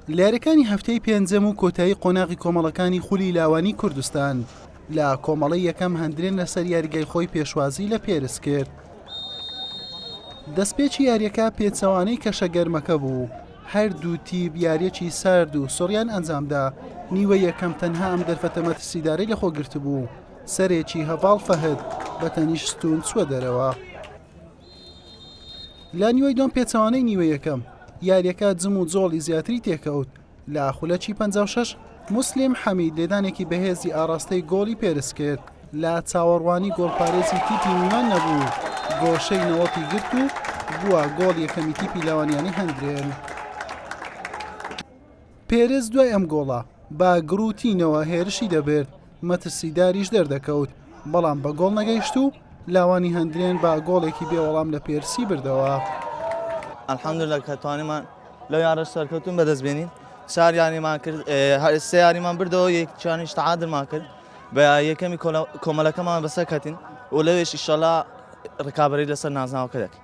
لە یاریەکانی هەفتەی پێنجەم و کۆتایی قۆناغی کۆمەڵەکانی خولی لاوانی کوردستان لە کۆمەڵی یەکەم هەندرێن لەسەر یاریگای خۆی پێشوازی لە پێرس کرد دەستپێکی یاریەکە پێچەوانەی کەشە گەرمەکە بوو هەردوو تیب یاریەکی سارد و سۆریان ئەنجامدا نیوە یەکەم تەنها ئەم دەرفەتە مەترسیدارەی لەخۆ گرتبوو سەرێکی هەڤاڵ فەهد بە تەنیشتون چوە دەرەوە. لە نیوەی دووەم پێچەوانەی نیوە یەکەم یاریەکە جم و جۆڵی زیاتری تێکەوت لە خولەکی 56 مسلیم حەمید لێدانێکی بەهێزی ئاراستەی گۆڵی پێرس کرد لە چاوەڕوانی گۆڵپارێزی تیپی میوان نەبوو گۆشەی نەوەتی گرت و بووە گۆڵ یەکەمی تیپی لەوانیانی هەندرێن. پێرێز دوای ئەم گۆڵە بە گڕوتینەوە هێرشی دەبرد، مەترسیداریش دەردەکەوت، بەڵام بە گۆڵ نەگەیشت و لاوانی هەندرێن بە گۆڵێکی بێ وەڵام لە پێرسی بردەوە. الحمدللە کە توانیمان لەو یانەش سەرکەوتن بەدەست بێنین چار یانیمان کرد هەر سێ یانیمان بردەوە یەکیانیش تعادلمان کرد بە یەکەمی کۆمەلەکەمان بەسەر کەتین و لەوێش ئیشەڵا ڕکابەری لەسەر نازناوەکە دەکەین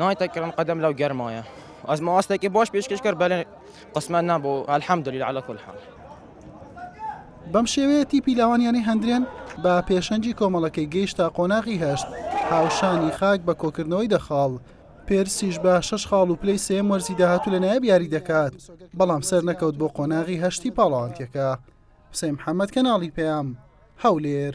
نایتە کڕن قەدەم لەو گەرمایە ئەز ماستێکی بۆش پێشکەش کرد بەلێ قسمەت نەبوو الحمدلله على كل حال بەم شێوەیە تیپی لاوانیانەی هەندرێن بە پێشەنگی کۆمەڵەکەی گەیشتە قۆناغی هەشت هاوشانی خاک بە کۆکردنەوەی دەخاڵ پێرسیش بە شش خاڵ و پلەی سێم وەرزی داهاتوو لە نایب یاری دەکات بەڵام سەر نەکەوت بۆ قۆناغی هەشتی پاڵاوانتیەکە حسین محەممەد کەناڵی پەیام هەولێر